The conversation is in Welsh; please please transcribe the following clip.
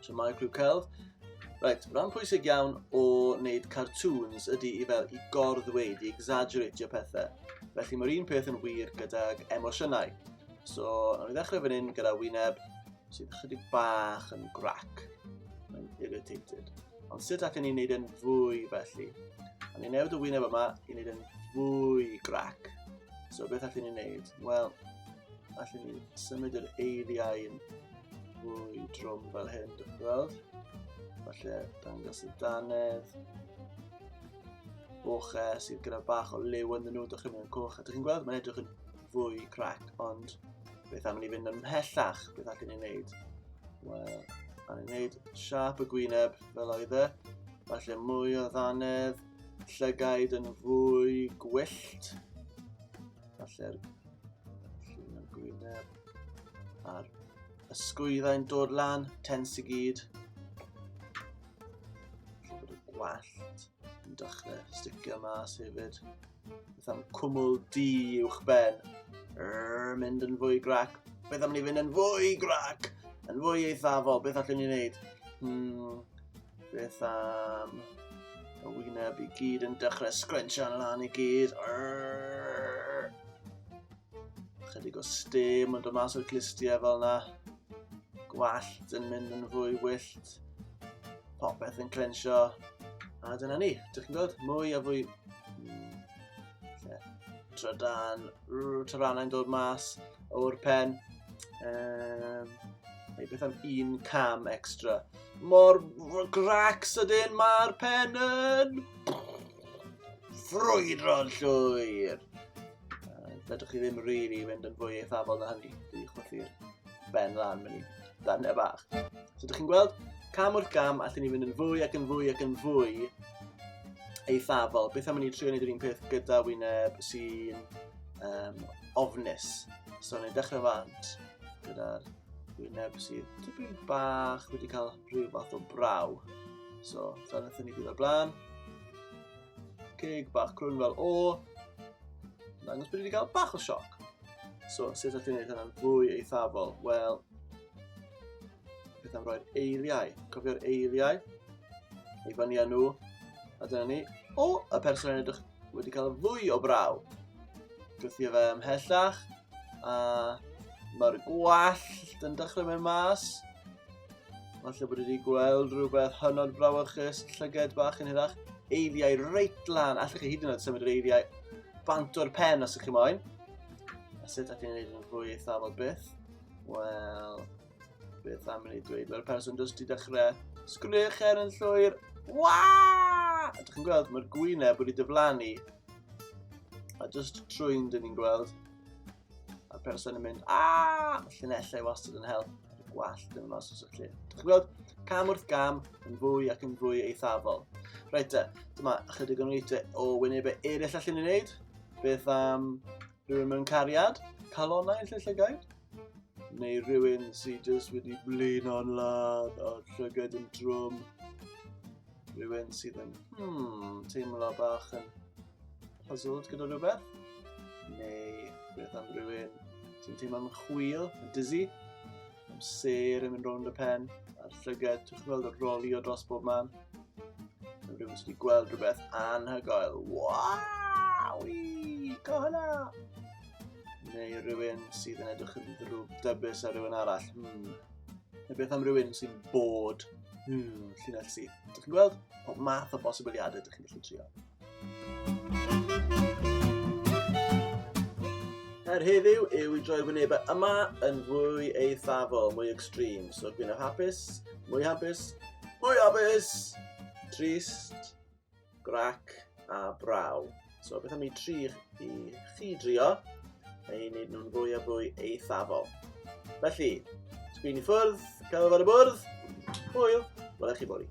So mae clyw celf. Right, rhan pwysig iawn o wneud cartoons ydy i fel i gorddweud, i exaggeratio pethau. Felly mae'r un peth yn wir gydag emosiynau. So, nawn ni ddechrau fan hyn gyda wyneb sydd chydig bach yn grac. Mae'n irritated. Ond sut ac yn ni'n neud yn fwy felly? A ni'n newid y wyneb yma i wneud yn fwy grac. So, beth allwn ni'n neud? Wel, Felly ni'n symud yr eiriau yn fwy drwm fel hyn, dwi'n gweld. Felly, dangos y danedd. Boch e sydd gyda bach o liw yn nhw, dych chi'n mynd coch. A dych chi'n gweld, mae'n edrych yn fwy crac, ond beth am ni fynd yn mhellach, beth allan ni'n neud? Wel, a ni'n neud siap y gwyneb fel oedd e. Falle mwy o ddanedd, llygaid yn fwy gwyllt. Falle'r llun yn gwyneb. A'r ysgwyddau'n dod lan, tens i gyd. Felly bod y gwallt yn dechrau sticio mas hefyd. Beth am cwmwl di uwch ben. Rrr, mynd yn fwy grac. Beth am ni fynd yn fwy grac? Yn fwy eithafol, beth allwn ni wneud? Hmm, Beth am y wyneb i gyd yn dechrau sgrensio'n lan i gyd. Arrgh. Chydig o stem yn dod mas o'r clistiau fel yna. Gwallt yn mynd yn fwy wyllt. Popeth yn clensio. A dyna ni. Dych chi'n gweld? Mwy a fwy... Hmm. Trydan. Tyrannau'n dod mas o'r pen. Um, neu beth am un cam extra. Mor grac sydyn mae'r pen yn ffrwydro'n llwyr. Fedrwch chi ddim rili really fynd yn fwy eithafol na hynny. Dwi'n eich chwythu'r ben lan mynd i ddarnau bach. So ydych chi'n gweld, cam wrth gam, allan ni fynd yn fwy ac yn fwy ac yn fwy eithafol. Beth am i ni trio wneud yr un peth gyda wyneb sy'n um, ofnus. So ni'n dechrau fant gyda'r wyneb sydd tipyn bach wedi cael rhyw fath o braw. So, dyna ddyn ni gyda'r blaen. Ceg bach crwn fel o. Dangos bod wedi cael bach o sioc. So, sut ydych chi'n gwneud hynna'n fwy eithafol? Wel, beth am roi'r eiliau? Cofio'r eiliau? Ei fyny â nhw. A dyna ni. O, y person yn edrych wedi cael y fwy o braw. Gwthio fe ymhellach, a mae'r gwallt yn dechrau mewn mas. Falle bod wedi gweld rhywbeth hynod brawychus, llyged bach yn hirach, eiliau reit lan. Allwch chi hyd yn oed symud yr eiliau bant o'r pen os ydych chi moyn. A sut ydych chi'n gwneud yn fwy eithafol byth? Wel, Beth am i ni dweud, fel person dros di dechrau, sgwniwch er yn llwyr, waa! A dych chi'n gweld, mae'r gwyneb wedi dyflannu. A just trwy'n dyn ni'n gweld, a'r person yn mynd, aa! Mae llunellau wastad yn help, a'r gwallt yn mas os ydych chi'n. Dych chi'n gweld, cam wrth gam, yn fwy ac yn fwy eithafol. Reit e, dyma ychydig o'n weithiau o wynebau eraill allan ni'n neud. Beth am rhywun mewn cariad, calonau yn lle llygaid? neu rhywun sydd jyst wedi blino'n ladd a llygad yn drwm. Rhywun sydd yn hmm, teimlo bach yn puzzled gyda rhywbeth. Neu beth am rhywun sy'n teimlo'n chwil, yn dizzy, am ser yn mynd rownd y pen, a'r llygad, ti'n gweld y roli o dros bob man. Neu rhywun sydd wedi gweld rhywbeth anhygoel. Waw! Go hwnna! Neu rhywun sydd yn edrych yn ddrwg dybus ar rhywun arall. Hmm. Neu beth am rhywun sy'n bod hmm, llinell sydd. Dych chi'n gweld? Pob math o bosibiliadau dych chi'n gallu trio. Her heddiw yw i droi wynebau yma yn fwy eithafol, mwy extreme. So dwi'n hapus, mwy hapus, mwy hapus, trist, grac a braw. So beth am i tri i chi drio a i wneud nhw'n fwy a fwy eithafol. Felly, sgwyn i ffwrdd, cael fod y bwrdd, hwyl, wel eich chi bori.